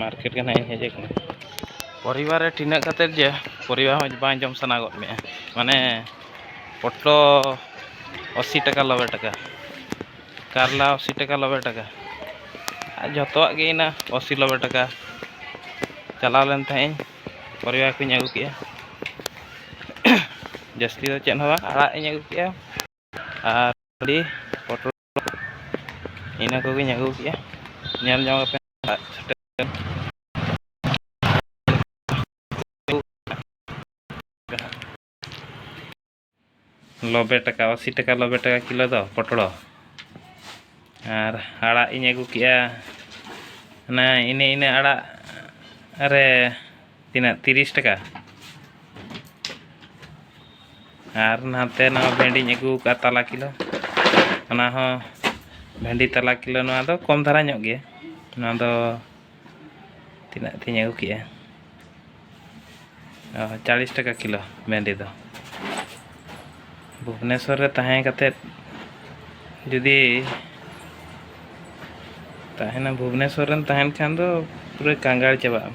market ᱜᱮ ᱱᱟᱦᱟᱜ ᱤᱧ ᱦᱮᱡ ᱟᱠᱟᱱᱟ ᱯᱚᱨᱤᱵᱟᱨ ᱨᱮ ᱴᱤᱱᱟᱹᱜ ᱠᱟᱛᱮᱫ ᱡᱮ ᱯᱚᱨᱤᱵᱟᱨ ᱦᱚᱸ ᱵᱟᱝ ᱡᱚᱢ ᱥᱟᱱᱟ ᱜᱚᱫ ᱢᱮᱭᱟ ᱢᱟᱱᱮ ᱯᱚᱴᱞᱚ ᱟᱥᱤ ᱴᱟᱠᱟ ᱱᱚᱵᱽᱵᱳᱭ ᱴᱟᱠᱟ ᱠᱟᱨᱞᱟ ᱟᱥᱤ ᱴᱟᱠᱟ ᱱᱚᱵᱽᱵᱳᱭ ᱴᱟᱠᱟ ᱟᱨ ᱡᱚᱛᱚᱣᱟᱜ ᱜᱮ ᱤᱱᱟᱹ ᱟᱥᱤ ᱱᱚᱵᱽᱵᱳᱭ ᱴᱟᱠᱟ ᱪᱟᱞᱟᱣ ᱞᱮᱱ ᱛᱟᱦᱮᱸᱫ ᱤᱧ ᱯᱚᱨᱤᱵᱟᱨ ᱠᱚᱧ ᱟᱹᱜᱩ ᱠᱮᱫᱼᱟ ᱡᱟᱹᱥᱛᱤ ᱫᱚ ᱪᱮᱫ ᱦᱚᱸ ᱵᱟᱝ ᱟᱲᱟᱜ ᱤᱧ ᱟᱹᱜᱩ ᱠᱮᱫᱼᱟ ᱟᱨ ᱟᱹᱰᱤ ᱯᱚᱴᱚᱞ ᱤᱱᱟᱹ ᱠᱚᱜᱮᱧ ᱟᱹᱜᱩ ᱠᱮᱜᱼᱟ ᱧᱮᱞ ᱡᱚᱝ ᱯᱮ ᱞᱚᱵᱮ ᱴᱟᱠᱟ ᱟᱥᱤ ᱴᱟᱠᱟ ᱞᱚᱵᱮ ᱴᱟᱠᱟ ᱠᱤᱞᱳ ᱫᱚ ᱯᱚᱴᱲᱚ ᱟᱨ ᱟᱲᱟᱜ ᱤᱧ ᱟᱹᱜᱩ ᱠᱮᱜᱼᱟ ᱚᱱᱟ ᱤᱱᱟᱹ ᱤᱱᱟᱹ ᱟᱲᱟᱜ ᱨᱮ ᱛᱤᱱᱟᱹᱜ ᱛᱤᱨᱤᱥ ᱴᱟᱠᱟ ᱟᱨ ᱱᱟᱛᱮ ᱱᱚᱣᱟ ᱵᱷᱮᱱᱰᱤᱧ ᱟᱹᱜᱩ ᱠᱟᱜᱼᱟ ᱛᱟᱞᱟ ᱠᱤᱞᱳ ᱚᱱᱟ ᱦᱚᱸ ᱵᱷᱮᱱᱰᱤ ᱛᱟᱞᱟ ᱠᱤᱞᱳ ᱱᱚᱣᱟ ᱫᱚ ᱠᱚᱢ ᱫᱷᱟᱨᱟ ᱧᱚᱜ ᱜᱮᱭᱟ ᱱᱚᱣᱟ ᱫᱚ ᱛᱤᱱᱟᱹᱜ ᱛᱤᱧ ᱟᱹᱜᱩ ᱠᱮᱜᱼᱟ ᱪᱟᱞᱤᱥ ᱴᱟᱠᱟ ᱠᱤᱞᱳ ᱵᱷᱮᱱᱰᱤ ᱫᱚ ᱵᱷᱩᱵᱽᱱᱮᱥᱚᱨ ᱨᱮ ᱛᱟᱦᱮᱸ ᱠᱟᱛᱮ ᱡᱩᱫᱤ ᱛᱟᱦᱮᱱᱟ ᱵᱷᱩᱵᱽᱱᱮᱥᱚᱨ ᱨᱮᱢ ᱛᱟᱦᱮᱱ ᱠᱷᱟᱱ ᱫᱚ ᱯᱩᱨᱟᱹ ᱠᱟᱸᱜᱟᱲ ᱪᱟᱵᱟᱜ ᱟᱢ